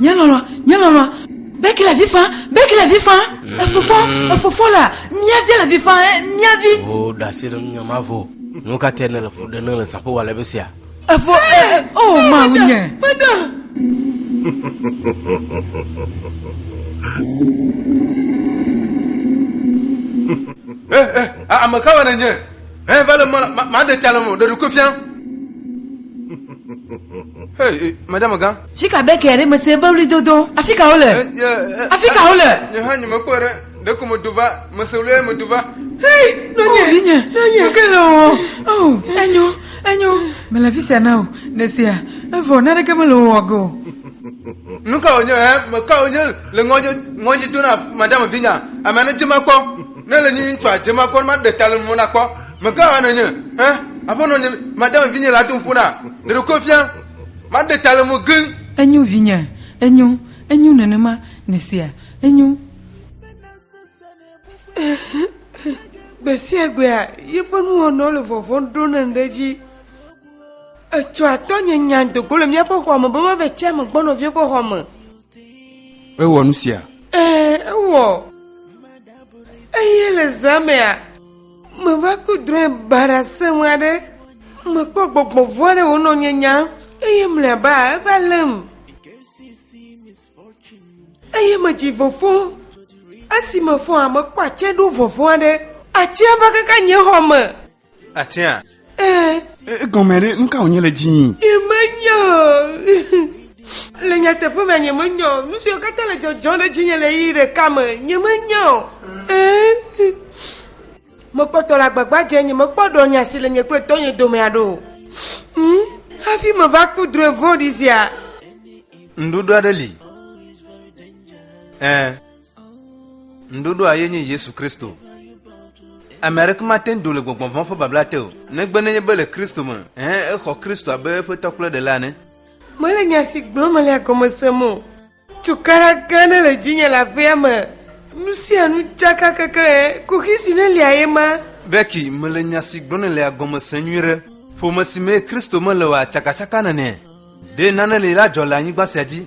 Nye lɔlɔ, nye lɔlɔ, bɛki le vi fam, bɛki le vi fam, efofɔ, efofɔ la, mia vi le vi fam, eh, mia vi. O da asi ɖe nunya ma vɔ. Nu ka te nele fu ɖe ne le zaƒo wa le be sia? Efo, eh, eh, eh, o ma wu nye. Meda. Eh, eh, ame kawoe nènye? Eh, vale, maɖe ta le mo, ɖeɖu koe fia. Hey, madame gã. Fika be kɛ ɖe mese be wli dodo. Afi ka wole? Eh, eh, Afi ka wole? Nye hã nye mekpɔ ɖe. Ɖe ko medo va, mese wli ye medo va. Hey, nonye. Oh, vinye, nonye. Nuke le o. Oh, enyo, enyo. Mele fi sia na o. Nesia, evɔ, naneke mele o wɔ go. Nuka wonye, eh, meka wonye le ŋɔdzi, ŋɔdzi do na madame vinya. Ame ne dze makpɔ. Ne le nyi ŋtsua dze ma kɔ, ma ɖe tale mo na kɔ. Me gã hã ne nye, hẽ, aƒe nɔ nye, ma dame vi nye la tom ƒo na, ɖe ɖo ko fia, ma ɖe tale mo gli. Enyo vi nye, enyo, enyo nenema, ne sea, enyo. Gbe sia gbea, yi ƒe nu wɔnɔ le vɔvɔ ɖo ne ɖe dzi. Etsɔa tɔ nye nya dogo le mía ƒe xɔa me be ma ve tsia me gbɔ nɔvia ƒe xɔa me. Ewɔ nu sia? Ee, ewɔ. Eye le zã mea, meva ku drɔ̃e baɖa sẽŋu aɖe. Mekpɔ gbɔgbɔ vɔ̃ aɖe wònɔ nye nya eye mlɔeba eva lém. Eye medzi vɔfɔ. Esi mefɔ hã mekpɔ atse ɖo vɔvɔ̃ aɖe. Atsea va kaka nye xɔ me. Atia. Ee. Egɔme ɖe nu ka wònye le dzii? Nyemenya. Le nyateƒe me nyemenya o. Nu siwo katã le dzɔdzɔm ɖe dzinye le ɣeyiɣi ɖeka me nyemenya o. Ee. Mekpɔtɔ le agbagba dze nyemekpɔ ɖɔ nya si le nye kple tɔnye dome aɖe o. Hmm? Hafi meva ku drɔe vɔ̃ɖi sia. Ŋɖoɖo aɖe li. Ee. Nuɖoɖoa ye nye Yesu Kristo. Ame aɖeke mate ŋu do le gbɔgbɔ vɔ̃ ƒe babla te o, negbe nenye be le Kristo me, hẽ exɔ Kristo abe eƒe tɔ kple ɖela ene. Mele nya si gblɔm mele la gɔme sem o. Tukaɖa gã aɖe le dzinye le aƒea me. Nu sia nu tsaka keklẽ. Kuxi si nelia ye ma. Becky, mele nya si gblɔm nèle la gɔme sem nyuie ɖe. Ƒome si mee Kristo mele oa tsakatsaka nene. Ɖe nane li la dzɔ le anyigba sia dzi.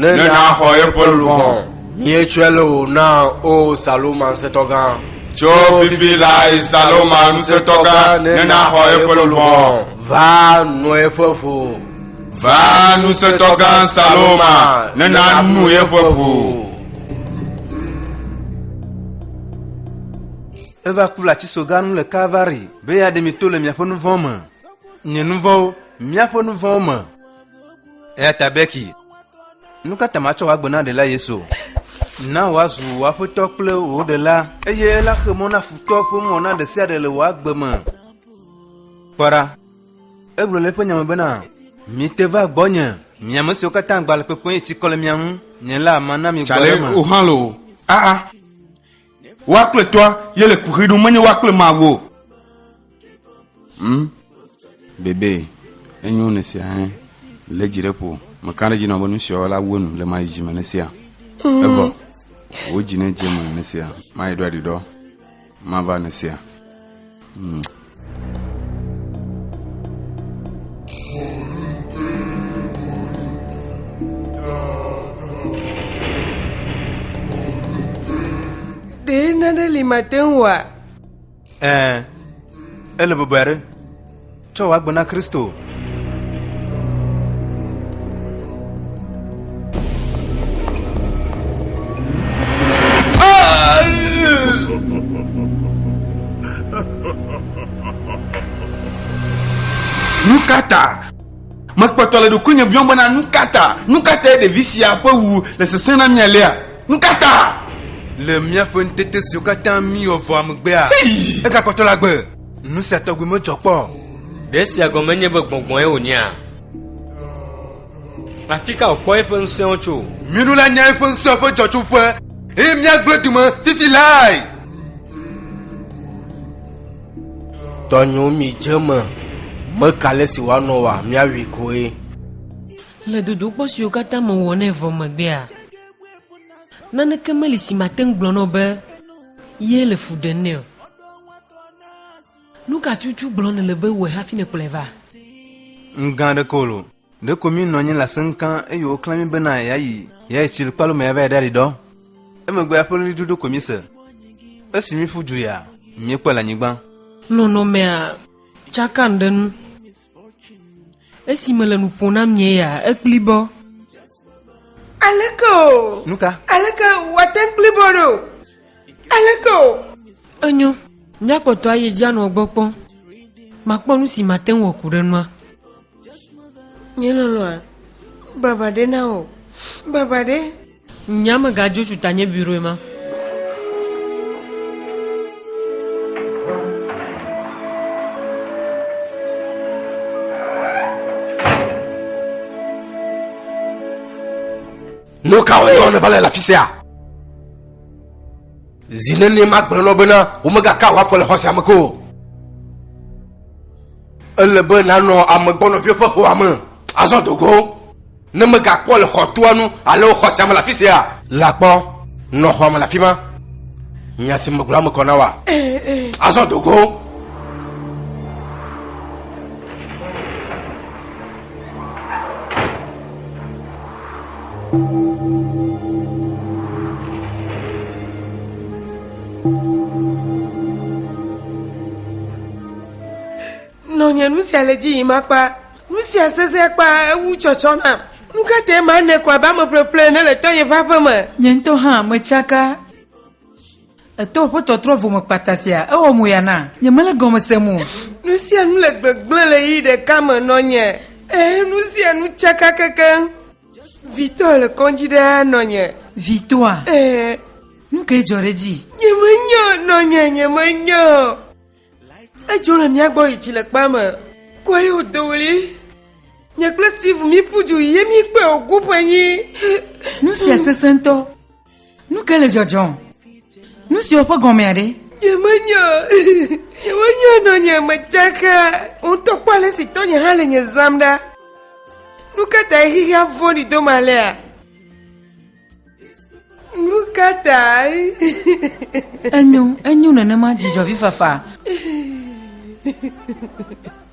Ne nàxɔ eƒe luʋɔ. Míetsɔe le wò na, O Saloma Ŋusẽtɔgã. Tso fifi lae Saloma Ŋusẽtɔgã ne naxɔ eƒe luʋɔ. Va nɔ eƒe ƒo. Va Ŋusẽtɔgã Saloma ne nanu eƒe ƒo. Eva ku le atisogã nu le Kalvari be yeaɖe mi to le miaƒe nu vɔ̃ me. Nye nu vɔ̃wo, míaƒe nu vɔ̃wo me. Eya ta Beki, nu ka ta matsɔ wò agbe na ɖela Yesu? Na wòazu wò aƒetɔ kple wò ɖela. Eye ela xe mɔ na futɔ ƒe ŋɔ na ɖe sia ɖe le wò agbe me. Kpɔ ɖa, egblɔ le eƒe nya me bena, Mite va gbɔnye, mi ame siwo katã agba le kpekpem eye tsikɔ le mia ŋu, nye la mana mi gbɔ ɖe eme. Aa! Woa kple tɔa ye le kuxi ɖum menye woa kple Mawu o. Hmm? Bebe, enyo ne sia hẽ le dzi ɖe ƒo. Meka ɖe dzi nɔ be nu sia la wu enu le mayi dzi me ne sia. Mm. Evɔ, wò dzi ne dze me ne sia, mayi ɖo aɖiɖɔ, mava ne sia. Hmm. ɖee nane li mate ŋu wa ɛɛ ele bɔbɔe aɖe tsɔ wɔ agbe na kristo Nukata mekpɔtɔ le ɖokuinye biɔm bena nukata nukata ye ɖevi sia ƒe wu le sesẽ na mia lea nukata le míaƒe ŋutete siwo katã míwɔ vɔa megbea egakpɔtɔ la gbe Nu sia tɔgbi medzɔ kpɔ. Ɖe esia gɔme nye be gbɔngbɔn ye wònyea? Afi ka wòkpɔ eƒe ŋusẽwo tso? Minu la nya eƒe ŋusẽ ƒe dzɔtsoƒe eye míagblẽ dume fifi lae. Tɔnyo mi dze me, meka le si wòanɔ wa, míawui koe. Le dodokpɔ siwo katã mewɔ nɛ vɔ megbea, naneke meli si mate ŋu gblɔ na wò be ye le fu ɖem nɛ o. Nu ka tutu gblɔm nèle be wòe hafi nèkplɔe va? Nu gã aɖeke o lo. Ɖeko míenɔ anyi le aseŋka eye woklã mí bena yɛayi yɛayi tsilikpalo me yavae ɖaɖi ɖɔ. Emegbea ƒe ɣlidodo koe míese. Esi míeƒu du ya, míekpɔe le anyigba. Nɔnɔmea tsakam ɖe nu. Esi mele nu ƒom na mie ya, ekpli bɔ. Aleke o! Nu ka? Aleke wòate ŋu kpli bɔ ɖo? Aleke o? Enyo, míakpɔtɔ ayi dzi anɔ gbɔ kpɔm. Makpɔ nu si mate ŋu wɔ ku ɖe nua. Nye lɔlɔ̃a, baba ɖe na wò. Baba ɖe. Nye amegadzo tsu ta nye biroe ma. Nu kawo nyɔ nèva le le afi sia? Zi nenie magblɔ na wo bena womegaka wò afɔ le xɔ sia me ko o. Ele be nànɔ ame gbɔnɔviwo ƒe xɔa me azɔ do go, ne mègakpɔ le xɔtoa nu alo xɔ sia me le afi sia. La kpɔ, nɔ xɔa me le afi ma. Nya si megblɔ la me kɔ na woa? Azɔ do go. Nɔ nye nu sia le dzi yim akpa, nu sia sese akpa ewu tsɔtsɔ nam. Nu ka te ma ne kɔ abe ame ƒleƒle ne le tɔnye ƒe aƒe me? Nye ŋutɔ hã metsaka Eto ƒe tɔtrɔ vome kpata sia, ewɔ moya na nye mele gɔme sem o. Nu sia nu le gbegblẽ le ɣeyiɣi ɖeka me nɔ nye, ẽ, nu sia nu tsaka kekeŋ. Vi tɔ le kɔdzi ɖaa nɔ nye. Vi tɔa? Ẽ. Nu kae dzɔ ɖe edzi? Nyemenya o, nɔ nye, nyemenya o. Edzo le mía gbɔ yi tsilekpea me. Kua ye wòdo ɣli. Nye kple Steve míeƒu du yi ye míekpɔe wògu ƒenyi. Nu sia sesẽ ŋutɔ. Nu ke le dzɔdzɔ? Nu siwo ƒe gɔmea ɖe? Yemenya, yemenya nɔ nye me tsaka, ŋutɔ kpɔ ale si tɔnye hã le nye zam ɖa. Nu ka ta xexea vɔ̃ɖi do ma lea? Nu ka ta? Enyo, enyo nenema dzidzɔvi fafa.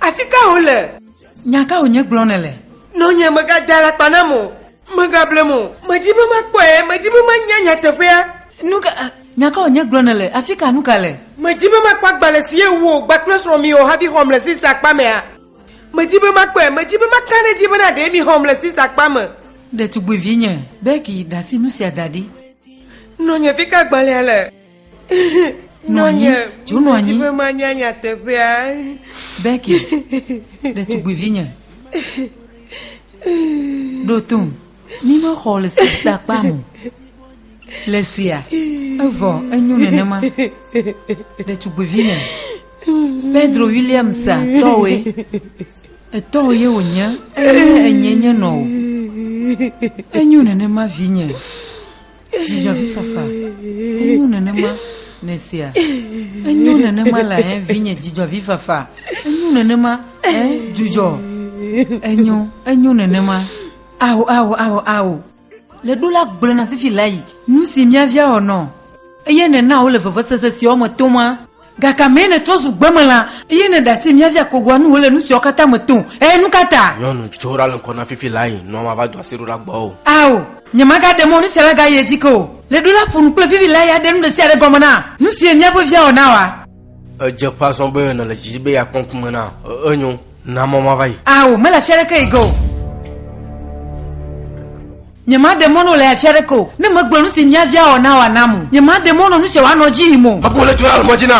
Afi ka wòle? Nya ka wònye gblɔm nèle? Nɔnye, mègada alakpa nam o. Mègablem o. Medi be makpɔe. Medi be manya nyateƒea. Nu ka, nya ka wònye gblɔm nèle? Afi ka nu ka le? Medi be makpɔ agbalẽ si ye wò kpakple srɔ̃ miwɔ hafi xɔm le Sisa akpa mea. Medi be makpɔe. Medi be maka ɖe edzi bena ɖee mixɔm le Sisa akpa me. Ɖetugbuivinye, Becky, ɖe asi nu sia da ɖi. Nɔnye, fi ka agbalẽa le? Nɔ anyi, dzo nɔ anyi. Be manya nyateƒea. Bɛki, ɖetugbuivinye. Ɖo tom, mímexɔ le sista kpa mo. Le sia, evɔ enyo nenema. Ɖetugbuivinye. Pedro Williamsa tɔwoe. Etɔwo ye wònye, eye enye nye nɔ o. Enyo nenema vinye. Dzidzɔvifafa. Enyo nenema le esia. Enyo nenema le eh, vinye dzidzɔvifafa. Enyo nenema eh, dzudzɔ. Enyo, enyo nenema. Awo, awo, awo, awo. Le ɖo la gblɔ na fifi la yi. Nu si mía via wɔ nɔ. Eye nena wole vevesese si wɔme toma. Gake amee nètrɔ zu gbemelã, eye nèɖe asi mía via kogoa nu wòle nu siawo katã me tom. Ɛ̃, nu ka ta? Nyɔnu, tso ɖa le ŋkɔ na fifi la yi, nua mava do asi ɖo ɖe agbɔwò. Ao, nyemagaɖe mɔ nu sia nagayi edzi ke o. Le ɖo la, ƒo nu kple fifi la yi aɖe nu ɖe sia ɖe gɔme na. Nu sie míaƒe via wɔ na wòa? Edze ƒã azɔ be nèle dzi be yeakpɔ ŋkume na. Ẽ, enyo, na mɔ mava yi. Ao, mele afi aɖeke yi ge o. Nyemaɖe mɔ nɔ le afia ɖeke o, ne megblɔ nu si mia via wɔ na wòanam o. Nyemaɖe mɔ nɔ nu sia wòanɔ dzi yim o. Abu le tso ale mɔ dzi na.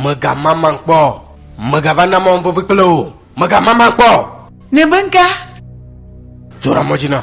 Megamamam kpɔ. Megava na mɔm vevi kple wò. Megamamam kpɔ. Ne be ŋka. Tso ɖe mɔ dzi na.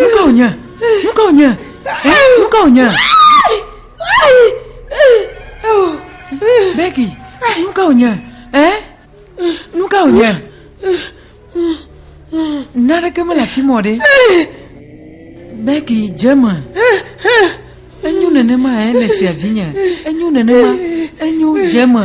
nu ka wònye nu ka wònye nu ka wònye beki nu ka wònye ɛ nu ka wònye naneke mele afi mɔ ɖe beki dze me enyo nenema ɛ le fia vinye enyo nenema enyo dze me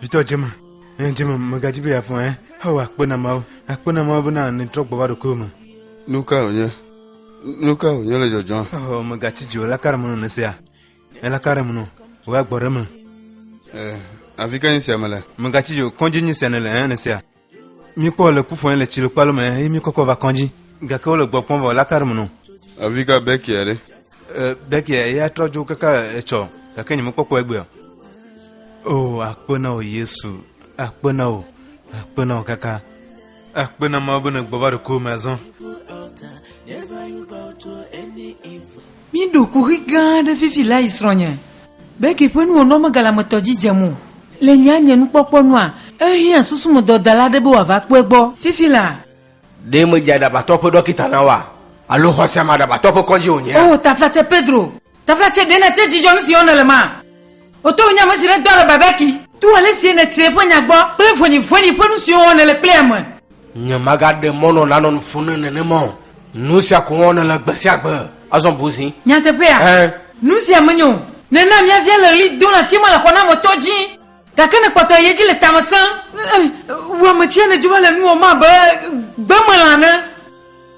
vitɔ dzema ɛn dzema megadzi be yeafɔ ɛ hɔ akpe na mawo akpe na mawo bena netrɔ gbɔ va ɖokuiwo me nu ka wònye nu ka wònye le dzɔdzɔ hɔ megatsi dzi o laka ɖe menɔ nesia elaka ɖe menɔ wòagbɔ ɖe me afi ka nyi sia me le megatsi dzi o kɔdzi nyi sia nele ɛ nesia Míkpɔ le ku ƒɔe le tsilokpalo me eye míkɔkɔ va kɔdzi. Gake wole gbɔ kpɔm vɔ laka ɖe me nɔ. Avi ka Bekia ɖe? Bekia eya trɔ dzo kaka etsɔ gake nye mekpɔkpɔ egbea. O akpe na wò Yesu, akpe na wò, akpe na wò kaka. Akpe na Mawu be nègbɔ va ɖokuiwò me azɔ. Míɖo kuxi gã aɖe fifi le ayi srɔ̃nye Becky ƒe nuwɔnuamegalametɔ dzi dzem o. Le nye anye nukpɔkpɔ nua, ehiã susumedɔdala aɖe be wòava kpɔe gbɔ. Fifi la. Ɖe medze aɖabatɔ ƒe ɖɔkita na woa? Alo xɔse ame aɖabatɔ ƒe kɔdzi wònyea? Oo, taflatse Pedro! Taflatse, ɖe nète dzidzɔ nu si wɔm nèle mea? Woto wò nye ame si nèdɔ le babaki. To ale si nètre eƒe nya gbɔ kple vɔ̃ɖivɔ̃ɖi ƒe nu siwo wɔm nèle kple ame. Nyemagaɖe mɔ nɔ nanɔ nu ƒom na nenema o. Nu sia ko wɔm nèle gbe sia gbe. Azɔ bu zi. Nyateƒea? Ẽ. Nu sia menyo o. Nèna mía via le ɣli dom le afi ma le xɔnametɔ dzi. Gake nèkpɔtɔe yi edzi le tame sẽm. Ẽ, wò ame tsia nèdzo va le nuwɔm abe gbemelã ene.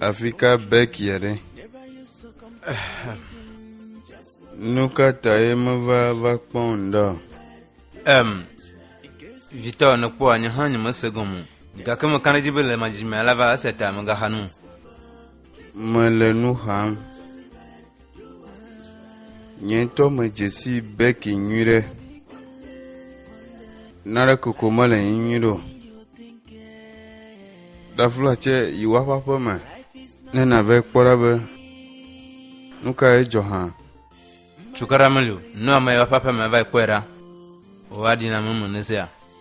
Afika Bekia ɖe. Nu ka ta ye meva va kpɔm ɖa? Em, vitɔ ne kpɔ anyi hã nye mese gɔme o. Gake me kan ɖe dzi be le madzidzi me alava ese ta me gaxa nu. Mele nu xam. Nye ŋutɔ medze si Becky nyui ɖe. Nare koko mele yi nyui ɖo. Dafla tsɛ yi woaƒe aƒe me ne nave kpɔ ɖa be nu ka ye dzɔ hã. Cukaɖa meli o. Nu ame yi woaƒe aƒe me va yi kpɔe ɖa. Wòaɖi na ame me ne sea.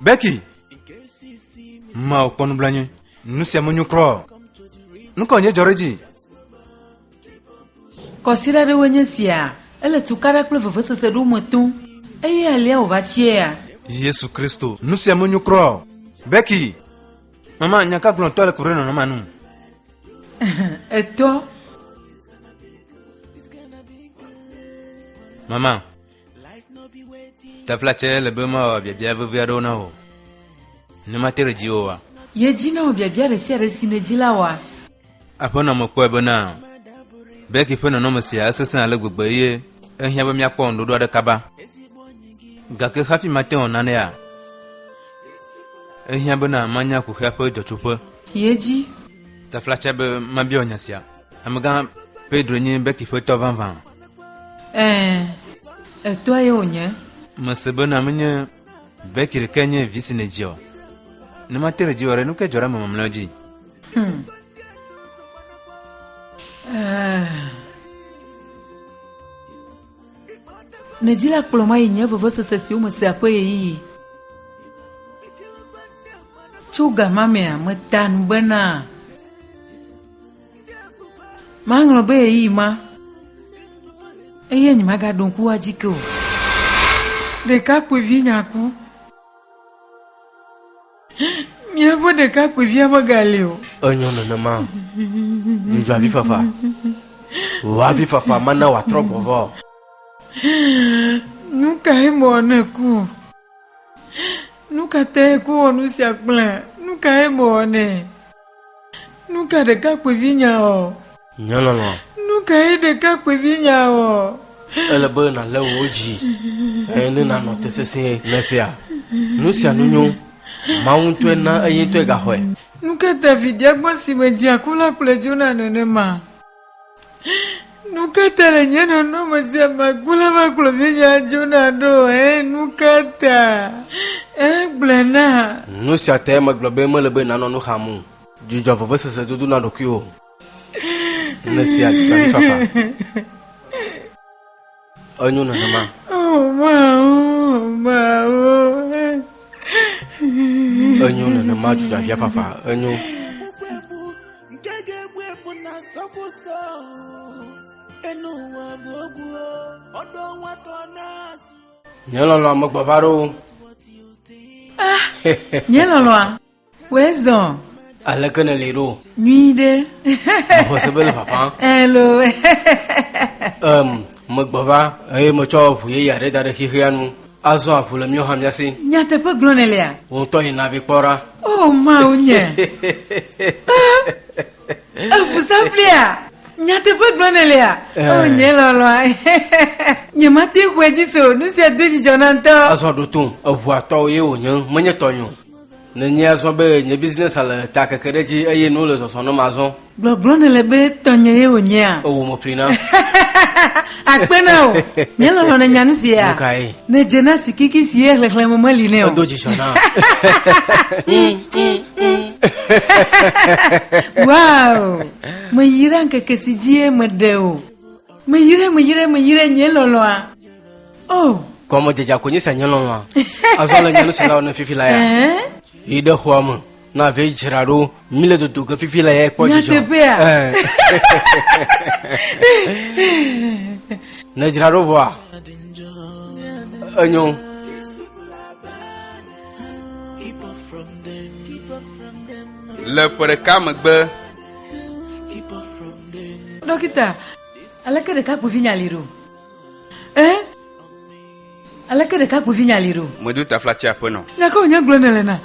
beki ma kpɔ nublanyi nu sia menyo kura o nu kawo nye dzɔ ɖe edzi Kɔsiɖa ɖewo nye sia. Ele tukaɖa kple vevesese ɖewo me tom, eye alea wòva tsiea. yesu kristo nu sia menyo kura o beki mama nya ka gblɔtɔ le ku ɖe nɔnɔmea nu Etɔ, mama Taflatse le be mawɔ biabia vevi aɖewo na wò. Ne mate ɖe dziwò oa? Ye dzi na wò biabia ɖe sia ɖe si nèdzi la oa? Aƒenɔ me kpɔe bena Becky ƒe nɔnɔme sia esesẽ ale gbegbe eye ehiã be míakpɔ ŋuɖoɖo aɖe kaba. Gake hafi mate ŋu nanea, ehiã bena manya kuxia ƒe dzɔtsoƒe. Ye dzi. Taflatse be mabiɔ nya sia. Amegã Pedro nye beki ƒetɔ vavã. Ɛɛ, etɔe ye wònye. Mese bena menye beki ɖeke nye vi si nèdzi o. Ne mate ɖe dzi o ɖe, nu ke dzɔ ɖe ame mamlɛawo dzi? Hmm. Ɛɛ. Nèdzi la kplɔ ma yi nye vevesese siwo mesea ƒe ɣeyiɣi. Tso gamamea meta nu bena. Maŋlɔ be ɣeyiɣi ma eye nyemagaɖo ŋku edzi ke o. Ɖekakpuivi nyaku. Míaƒe ɖekakpuivia megali o. Enyo nenema. Dzudzɔ avi fafa. Wò avi fafa mana wòatrɔ gbɔ vɔ. Nu kae mewɔ ne ku? Nu ka tae ku wɔ nu sia kple nu kae mewɔ nɛ? Nuka ɖekakpuivi nya ɔ? Nye lɔlɔ. Nuka ye ɖekakpuivi nya ɔ? Ele be nalé wò dzi eye ne nanɔ te sesĩe ne sea nu sia nu nyo. Mawu ŋutɔe na eyi ŋutɔe gaxɔe. Nuka ta viɖe agbɔn si me dzea ku la kplɔe dzona nenema? Nukata le nye nɔnɔme sia magblɔ la va kplɔ vinya dzona ɖo ɛ nukata ɛ gblɔ na. Nu sia te megblɔ be mele be nanɔ nu xam o. Dzudzɔ vevesese dodo na ɖokuiwò. Nèsia dzudzɔɖifafa. Enyo nenema. Enyo nenema dzudzavia fafa. Enyo. Nye lɔlɔa megbɔva ɖo. Ah, nye lɔlɔa. Wezɔ. Aleke nèli ɖo? Nyui ɖe. Mexɔ se be le ƒaƒã. Elo. Em, megbɔ va eye metsɔ ʋu yeye aɖe da ɖe xexea nu. Azɔ aʋu le míawo hã mía si. Nyateƒe gblɔ nèlea? Wò ŋutɔ yi na vi kpɔ ɖa. O Mawu nye. Eʋu saflia. Nyateƒe gblɔ nèlea? Eh. O nye lɔlɔa. Nyemate ŋu edzi se o. Nu sia do dzidzɔ na ŋutɔ. Azɔ ɖo tom. Eʋua tɔwò ye wònye, menye tɔnye o. Nenye azɔ be nye business a le ta keke ɖe edzi eye nuwo le zɔzɔ nɔm azɔ. Gbɔgblɔ nèle be tɔnye ye wònyea? Ewɔ mo ƒli nam. Akpe na wò. Nye lɔlɔ̃ nènya nu sia. Nu kae? Nèdze na sikiki si ye xlexlẽme meli nɛ o. Edo dzidzɔ nam. Wow! Meyra ŋkeke si dzie meɖe o. Meyrae, meyrae, meyrae, nye lɔlɔ̃a. Oh. Kɔmɔ dzedza ko nyesa nye lɔlɔa. Azɔ le nyanu sila ne fifi la ya. Yi de xɔa me. Na ve dzra ɖo. Mi le dodo ke fifi la ya kpɔ dzidzɔ. Nyateƒea. Ne dzra ɖo vɔa. Enyo. Le ƒe ɖeka megbe. Dɔkita, aleke ɖekakpuivi nya li ɖo? Eh? Aleke ɖekakpuivi nya li ɖo? Mɔdu taflatia ƒe nɔ. Nya kawo nya gblɔ ne le na?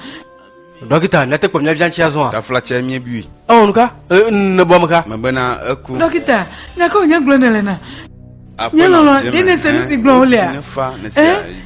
Dɔkita, ne te kpɔ mía vian tsia zɔa? Taflatia mie bui. Ɔ nuka? E, ne bɔ meka. Mebe na eku. Dɔkita, nya kawo nya gblɔ ne le na? Nye lɔlɔ, ɖe ne se nu si gblɔ wo lea? Eh?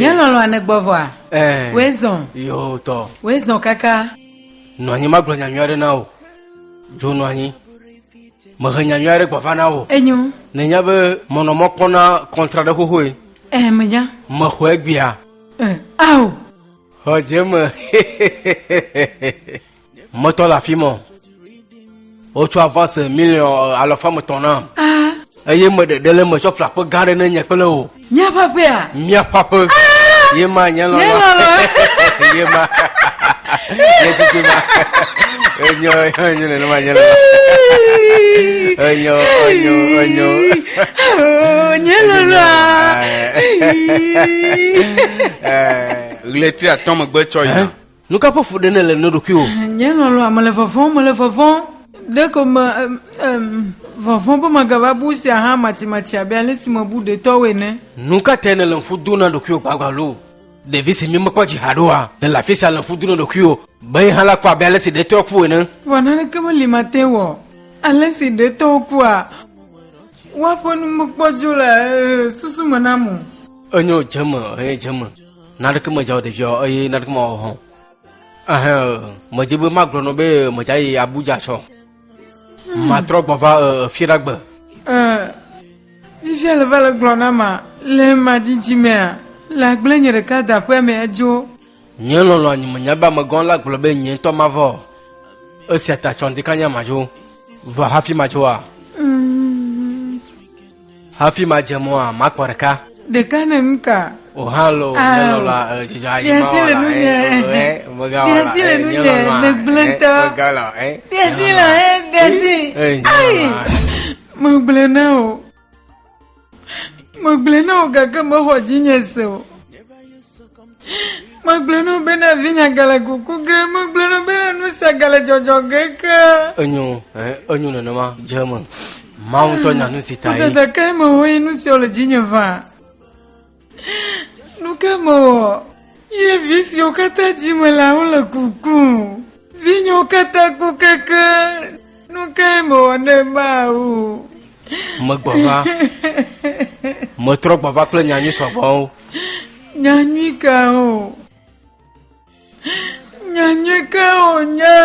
Nye lɔlɔ̃ ane gbɔ vɔa? Ɛɛ. Woe zɔ. Yo tɔ. Woe zɔ kaka. Nɔ anyi magblɔ nya nyui aɖe na wò. Dzo nɔ anyi. Mehe nya nyui aɖe gbɔva na wò. Enyo. Nènya be mɔ nɔ mɔ kpɔna kɔntra ɖe xoxoe. Ɛɛ menya. Mexɔe gbea. Ɛɛ ao. Xɔ dze me. Metɔ le afi mɔ. Wotsɔ avance miliɔn eh, alɔfa metɔ na. Ah. Eye me ɖeɖe le me tsɔ ƒlaƒe gã ɖe ne nye kple wò. Míaƒe aƒea. Míaƒe aƒe. Ah. Ye ma nye lɔlɔ. Ye ma. Ye tutu ma. Enyo enyo ne ma nye lɔlɔ. Enyo enyo enyo. Oh, nye lɔlɔ. Ɣleti atɔ megbe tsɔ yina. Nu ka ƒe fuɖe nèle na ɖokuiwò? Nye lɔlɔ̃a, mele vɔvɔ̃m, mele vɔvɔ̃m. Ɖeko me, em, vɔvɔ̃ be magava bu esia hã matsimatsi abe ale si mebu ɖetɔwo ene. Nu ka tae nèle ŋku dom na ɖokuiwò gbagbaloo? Ɖevi si mi mekpɔ dzi haɖe oa, nèle afi sia le ŋku dom na ɖokuiwò be ye hã la kua abe ale si ɖetɔa ku ene? Vɔ naneke meli mate ŋu wɔ. Ale si ɖetɔwo kua, woaƒe nu mekpɔ dzo le, e, susu me nam o. Enyo, dze eme, eye dze eme. Naneke medzao ɖevia o eye naneke mawɔ hã o. Ehe, medze be magblɔ nɔ be medza yi Abuja tsɔ. Hmm. Matrɔ gbɔ va Fiɖagbe. Vivia le va le gblɔ na ma le ma didi mea le agble nye ɖeka da ƒe mea dzo. Nye lɔlɔ anyi me nya be amegã la gblɔ be nye ŋutɔ ma vɔ. Esia ta tsɔ ɖeka nya ma dzo. Vɔ hafi ma dzoa. Hafi madze mɔa, makpɔ ɖeka. Ɖeka ne nu ka? O hã lo ah. nye lɔlɔ eh, dzidzɔ ayi ma wɔ la ɛ mega wɔ la ɛ nye lɔlɔ ɛ mega la ɛ. Diasi le ɛ diasi. Ayi mo gblẽ na o mo gblẽ na o gake mexɔ dzinye se o. Megblɔ nɔ be na vinya gale kuku ge, megblɔ nɔ be na nu sia gale dzɔdzɔ ge ke. Enyo, ɛ, enyo nenema dze me. Mawu ŋutɔ nya nu si ta ye. Wodede ke me wo ye nu siwo le dzinye va. Nu ke mewɔ ye vi siwo katã dzi me le wole kuku. Vinyewo katã ku keke. Nu kae mewɔ ne Mawu? Megbɔ va. Metrɔ gbɔ va kple nyanyui sɔgbɔwo. Nyanyui ka o? Nyanyui ka o nya?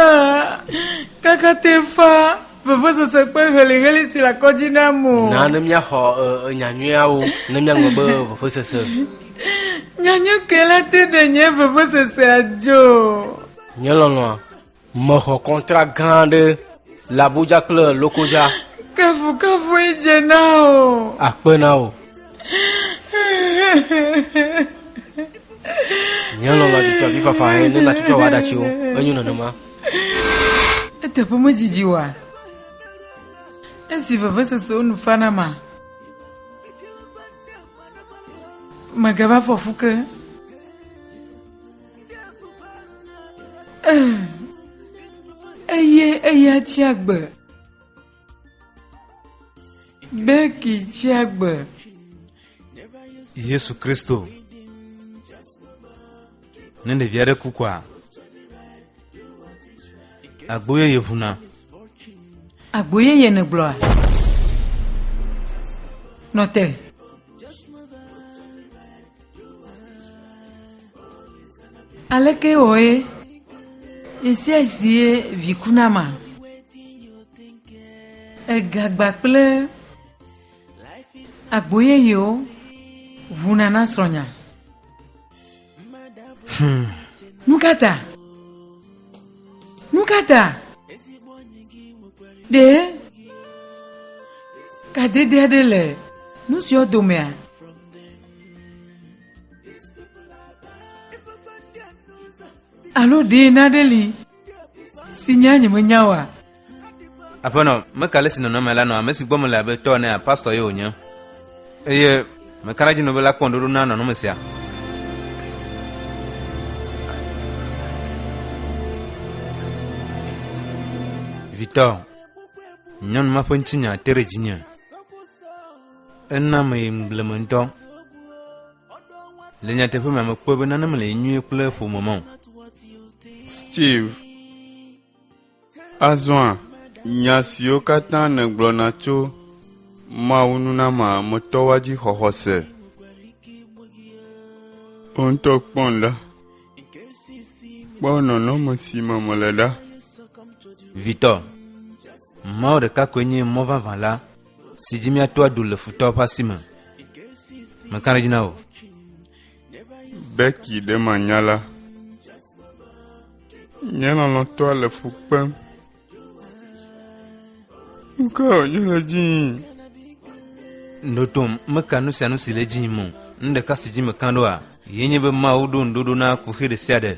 Kaka te fa vevesese kple heliheli si le akɔdzi na mo. Na ne míaxɔ nyanyuiawo ne míaŋlɔ be vevesese. Nyanyui kele te ɖe nye vevesesea dzo. Nye lɔlɔ̃a. Mexɔ kɔntra gã aɖe le Abuja kple Lokoja. Kafukafu edze na o. Akpe na o. Nye lɔlɔ dzidzɔ vi fafa he ne natsitsɔ wa ɖatsi o. Enyo nenema. Eteƒe medzidzi wa. Esi vevesesewo nu fana ma. Megava fɔfu ke. eye eya tsia gbe beki tsia gbe yesu kristo ne ɖevi aɖe ku kɔa agbo yeye ʋuna agbo yeye negblɔa nɔte Aleke wɔe ɣe sia ɣie vi ku na ma? Egagba kple agbo yeyewo ŋuna na srɔ̃nya. Hmm. Nu ka ta? Nu ka ta? Ɖe kadede aɖe le nu siwo domea? Alo ɖe naɖe li si nya nyemenya wa. Aƒenɔ, meka le si nɔnɔme la nɔ ame si gbɔ mele abe tɔ nea pastɔ ye wònye. Eye meka ɖe dzi nɔ be la kpɔ ŋɖoɖo na nɔnɔme sia. Vitɔ, nyɔnu ma ƒe ŋutinya te ɖe dzinye. Ena meyim blemeŋutɔ. Le nyateƒe me, mekpɔe be nane mele nyuie kple ƒome me o. Steve, Azɔa nya siwo katã nègblɔna tso Mawu nunamea me tɔwoa dzi xɔxɔ se? Wò ŋutɔ kpɔm ɖa. Kpɔ nɔnɔme si me mele ɖa. Victor, Mawu ɖeka koe nye mɔ vavã la. si dzi míato adu le futɔwo ƒe asi me. Meka ɖe dzi na wò. Beki ɖe manya la. Nye lɔlɔ̃tɔa le fu kpem. Nu ka wònye le dzi yim? Ɖoɖom meka nu sia nu si le dzi yim o. Nu ɖeka si dzi meka ɖoa, ye nye be Mawu ɖo ŋuɖoɖo na kuxi ɖe sia ɖe.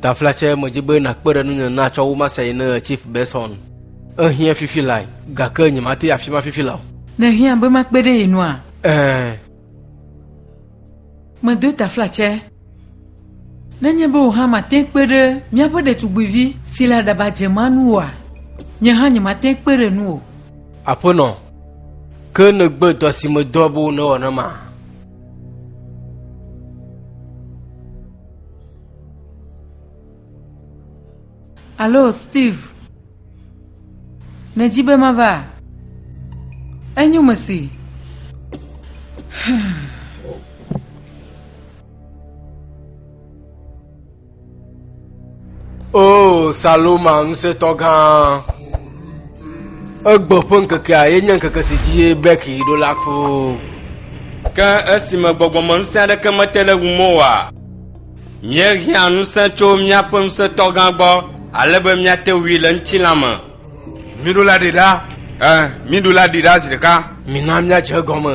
Taflatse medzi be nakpe ɖe nunye na tsɔ wu masa yi ne Chief Benson. Ehiã fifi lae, gake nyemate yi afima fifi la o. Nèhiã be makpe ɖe ye nua? Ɛɛ. Medo taflatse. Nenye be wò hã màte kpe ɖe míaƒe ɖetugbuivi si le aɖaba dze ma nu oa, nye hã nyemate kpe ɖe nu o. Aƒenɔ, ke nègbe dɔ si medɔ be wò nèwɔ nam a? Alo Steve, nèdi be mava? Enyo mesi. O Saloma ŋusẽtɔ gã, egbe ƒe ŋkekea ye nye ŋkeke si dzi beki ɖo la ko. Ke esime gbɔgbɔme ŋusẽ aɖeke mete ɖe ŋu moa, míehiã ŋusẽ tso míaƒe ŋusẽtɔ gã gbɔ ale be míate wui le ŋutilã me. Miɖo la ɖi ɖa. Ẽ, miɖo la ɖi ɖa zi ɖeka. Mina míadze egɔme.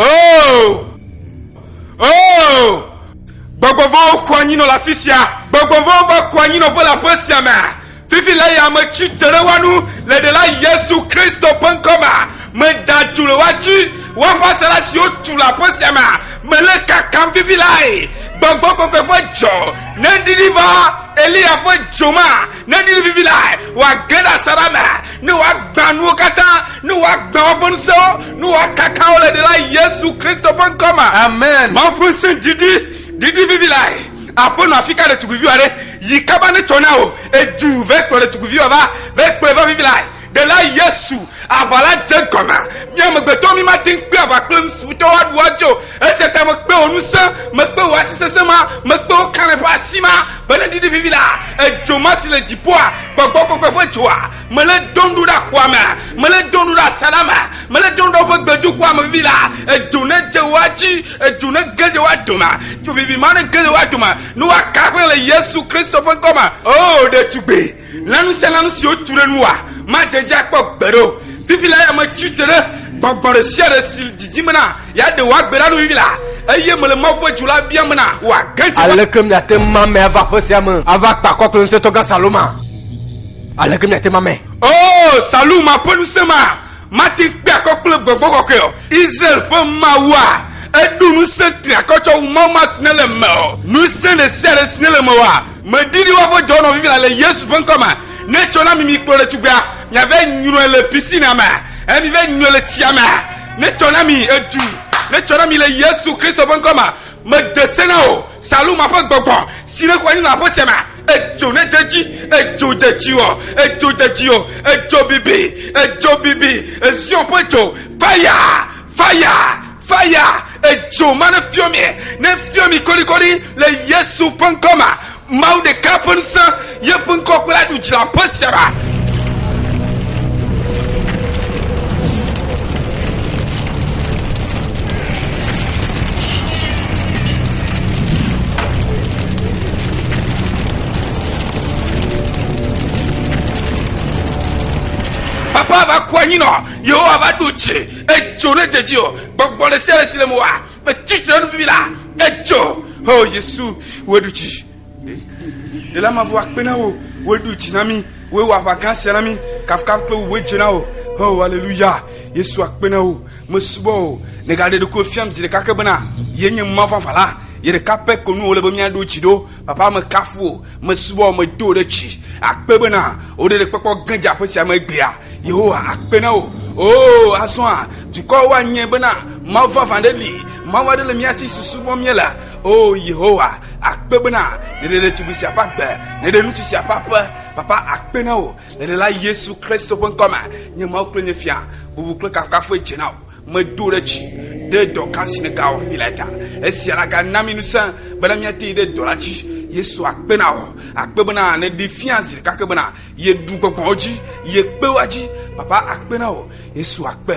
Oh! Oh! Gbɔgbɔvɔwo xɔ anyinɔ le afi sia. Gbɔgbɔvɔwo va xɔ anyinɔƒe le aƒe sia me. Fifi la ya me tsi dze ɖe woanu le ɖela Yesu Kristo ƒe ŋkɔ me. Meda dzo le woatsi woaƒe asaɖa siwo tu le aƒe sia me. Mele kakam fifi lae. Gbɔgbɔ kɔkɔe ƒe dzɔ neɖiɖi va Eliya ƒe dzo me Ne ɖi vivi lae wòage ɖe asaɖa me, ne wòagbã nuwo katã, ne wòagbã woƒe ŋusẽwo, ne wòakaka wo le Ɖela Yesu Kristo ƒe ŋkɔ me. Amen. Mawu ƒe ŋusẽ didi, didi vivi lae. Aƒenɔ, afika ɖetugbiviwo aɖe yi kaba netsɔ na wò? Edu vɛ kplɔ ɖetugbiviwo va, vɛ kplɔe va vivi lae. Ɖela Yesu, aʋa la dze egɔme. Mí amegbetɔwo mí mate ŋu kpe aʋa kple nu si futɔ woaɖu woadzo o. Esia ta mekpe wò ŋusẽ, mekpe wò asi sesẽ ma, mekpe wò kalẽ ƒe asi ma, bene ɖiɖi vivi la, edzo ma si le dziƒoa, gbɔgbɔ kɔkɔe ƒe dzoa, melé dom ɖo ɖe axoa me, melé dom ɖo ɖe asaɖa me, melé dom ɖo ɖe woƒe gbedoxɔa me vivi la, edzo nedze woa dzi, edzo nege ɖe woa dome, dzo vivi ma nege ɖe woa dome, ne woaka aƒe le Yesu Kristo ƒe ŋkɔ me. Oo, ɖetugbui, Lanu sia lanu si wotu ɖe nua made edzi akpɔ gbeɖe o. Fifi la ya metsi tre ɖe gbɔgbɔ ɖe sia ɖe si didi mena yeaɖe wò agbe la nu vivi la, eye mele Mawu ƒe dzo la biam bena wòage dzi. Aleke miate ŋu mamɛ ava aƒe sia me ava kpe akɔ kple Ŋusẽtɔgã Saluma? Aleke miate mamɛ? Oo, Saluma ƒe ŋusẽ ma mate ŋu kpe akɔ kple gbɔgbɔ kɔkɔe o. Israel ƒe Mawua, èɖo ŋusẽ triakɔ tsɔ wu Mawu ma si nèle eme o. Ŋusẽ ɖe sia ɖe si nèle eme oa, Medi ɖi woaƒe dɔ nɔ vivila le Yesu ƒe ŋkɔ me. Ne tsɔ na mi mi kplɔ ɖetugbea, miave nyrɔe le pisina me, eye mive nyrɔe le tsia me. Ne tsɔ na mi edu, ne tsɔ na mi le Yesu Kristo ƒe ŋkɔ me. Mede se na wò, Saluma ƒe gbɔgbɔ, si ne xɔ anyi nɔ aƒe sia me. Edzo ne dze edzi, edzo dze dziwò, edzo dze dziwò, edzo bibi, edzo bibi, Zion ƒe dzo, fire, fire. Fire edzo ma ne fiɔ miɛ ne fiɔ mi kolikoli le yesu ƒe ŋkɔ ma mawu ɖeka ƒe ŋusẽ yeƒe ŋkɔ kple aɖu dzra ƒe sia ɖa papa va kua nyinɔ yehowa va ɖu dzi edzo ne dedzi o gbɔgbɔ ɖe sia ɖe si le mo wa metsi tre nu bibi la edzo o oh, yesu woɖu dzi ɖela mavɔ akpe na wo woɖu dzi na mi woewɔ aʋa gã sia na mi kafukafu kple wuwoe dze na o o oh, aleluya yesu akpe na wo mesubɔ o negaɖe ɖokui fiam zi ɖeka ke bena yenye mavɔ aʋa la ye ɖeka pɛ ko nu wòle be míaɖo dzi ɖo Papa mekafu wò, mesubɔ wò, medo wò ɖe dzi. Akpe bena wò ɖeɖekpɔkpɔ ge dze aƒe sia me egbea. Yehowa, akpe na wò. Oo, azɔa, dukɔwo anyae bena Mawu vavã aɖe li, Mawu aɖe le mía si si subɔm míele. Oo, Yehowa, akpe bena nèɖe ɖetugbui sia ƒe agbe, nèɖe ŋutsu sia ƒe aƒe. Papa, akpe na wò le Ɖela Yesu Kristo ƒe ŋkɔ me. Nye Mawu kple nye Fia, bubu kple kafukafue dze na wò. Medo ɖe dzi ɖe dɔ gã si nègawɔ ƒe vi la ta. Esia la gana mi ŋusẽ bena míate yi ɖe dɔ la dzi. Yesu akpe na wò. Akpe bena nèɖee fia zi ɖeka ke bena yeɖu gbɔgbɔwo dzi, yekpe woa dzi. Papa akpe na wò. Yesu akpe.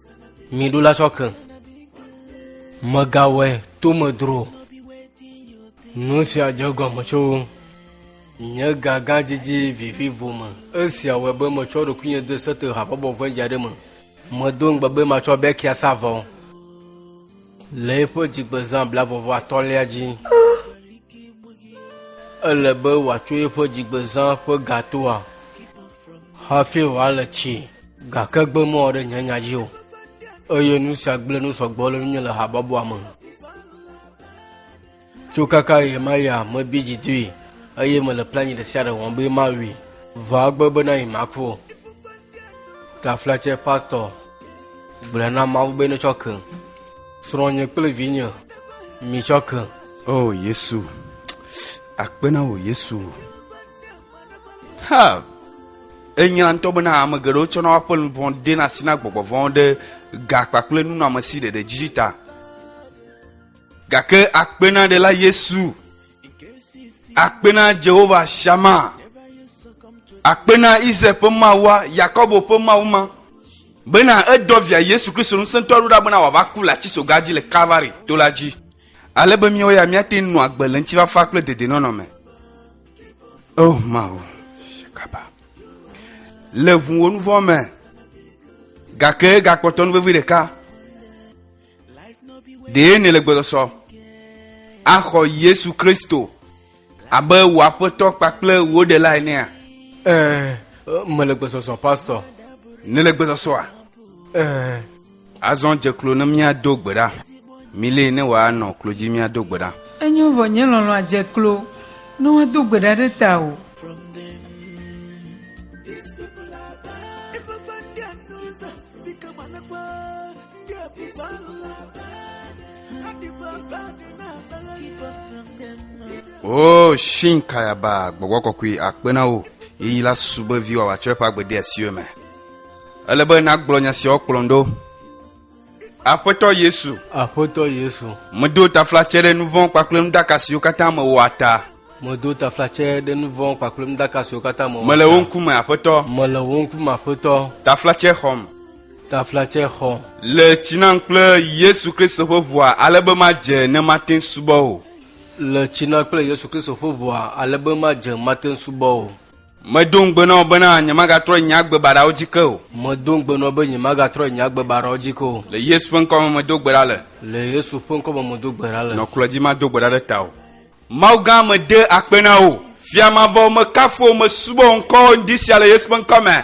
mi ɖo la tsɔke megawɔe tomedro nu sia dze gɔme tso nye gaga didi vivi vo me esia wɔe be metsɔ ɖokuinye de sete habɔbɔ vɔ̃dzi aɖe me medo ŋugbe be matsɔ bɛkia sa vɔ le eƒe dzigbezã blavɔvɔ atɔ̃lia dzi ele be wòatso eƒe dzigbezã ƒe gatoa Hafi wòale tsi, gake gbe mɔ ɖe nye nya dzi o. Eye nu sia gblẽ nu sɔgbɔ le nunye le habɔbɔa me. Tso kaka ɣe ma ɣia, mebi dzi dui, eye mele planyi ɖe sia ɖe wɔm be mawui. Vɔ agbe bena yi maku o. Taflatse pastor gblɔe na Mawu be netsɔ ke. Srɔ̃nye kple vinye mitsɔ ke. O Yesu, akpe na wò Yesu. Ha! Enyla ŋutɔ bena ame geɖewo tsɔna woƒe luʋɔ dena asi na gbɔgbɔ vɔ̃ ɖe ga kpakple nunɔamesi ɖeɖe dzi ta. Gake akpenaɖela Yesu, akpena Jehovah Shama, akpena Israel ƒe Mawua, Yakobo ƒe Mawu ma, bena edɔ via Yesu Kristo ŋusẽtɔ ɖo ɖa bena wòava ku le atisoga dzi le Kalvari to la dzi. Ale be míawo ya míate ŋu nɔ agbe le ŋutifafa kple dedenɔnɔ me. Oh, Mawu, shakaba. Le ŋu wo nu vɔ̃ me, gake gakpɔtɔ nu vevi ɖeka. Ɖee nèle gbɔsɔsɔ axɔ Yesu Kristo abe wò aƒetɔ kpakple wò ɖela enea? Ɛɛ, mele gbɔsɔsɔ, pastɔ. Nèle gbɔsɔsɔa? Ɛɛ, Azɔ dze klo ne míado gbe ɖa. Milée ne wòanɔ klo dzi míado gbe ɖa. Enyo vɔ nye lɔlɔ̃a dze klo ne woado gbe ɖa ɖe tawò. Oh, shin kayaba, gbɔgbɔ kɔkɔe akpe na wò. Eyi la subɔe viwa wòatsɔ eƒe agbe de asiwò me. Ele be nàgblɔ nya siawo kplɔm ɖo. Aƒetɔ Yesu. Aƒetɔ Yesu. Medo taflatsɛ ɖe nu vɔ̃ kpakple nudaka siwo katã mewɔa ta. Medo taflatsɛ ɖe nu vɔ̃ kpakple nudaka siwo katã mewɔa ta. Mele wo ŋkume, Aƒetɔ. Mele wo ŋkume, Aƒetɔ. Taflatsɛ xɔm. Taflatsɛ xɔ. Le tsi nam kple Yesu Kristo ƒe ʋua ale be madze ne mate ŋu subɔ o. Le tsi nam kple Yesu Kristo ƒe ʋua ale be madze ne mate ŋu subɔ o. Medo ŋugbe na wò bena nyemagatrɔ nye agbe baɖawo dzi ke o. Medo ŋugbe na wò be nyemagatrɔ nye agbe baɖawo dzi ke o. Le Yesu ƒe ŋkɔ me medo gbe ɖa le. Le Yesu ƒe ŋkɔ me medo gbe ɖa le. Nɔ kplɔ̃ dzi mado gbe ɖa ɖe tawò. Mawu gã, mede akpe na wò. Fia mavɔ wò, mekafu wò, mesubɔ wò ŋkɔ ŋdi sia le Yesu ƒe ŋkɔ me.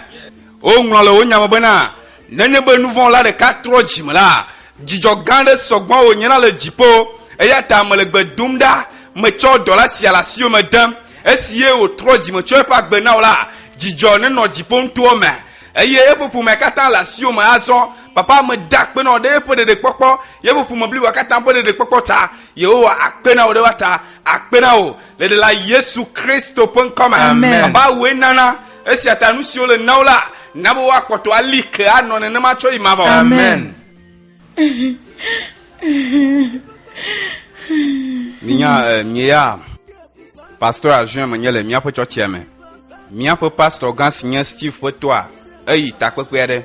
Woŋlɔ le wò nya me bena. Nenye be nuvɔ̃la ɖeka trɔ dzi me la, dzidzɔ gã aɖe sɔ gbɔ wònye la le dziƒo. Eya ta mele gbe dom ɖa, metsɔ dɔla sia le asiwò me dem. Esi ye wòtrɔ dzime tsɔ eƒe agbe na wò la, dzidzɔ nenɔ dziƒo nutowo me. Eye eƒe ƒomea katã le asiwò me azɔ. Papa, meda akpe na wò ɖe eƒe ɖeɖekpɔkpɔ, yeƒe ƒome bliboa katã ƒe ɖeɖekpɔkpɔ ta. Yehowa akpe na wò ɖe woata akpe na wò le Ɖela Yesu Kristo ƒe ŋkɔ me. Amen. Baba, wòe nana. Esia ta nu siwo le na wo la na be woakpɔtɔ ali ke anɔ nenema tsɔ yi mavɔ. Amen. Minya eh, mieya pastor Azuin menye le míaƒe tsɔtsia me. Míaƒe pastor gã si nye Steve ƒe tɔa eyi takpekpe aɖe.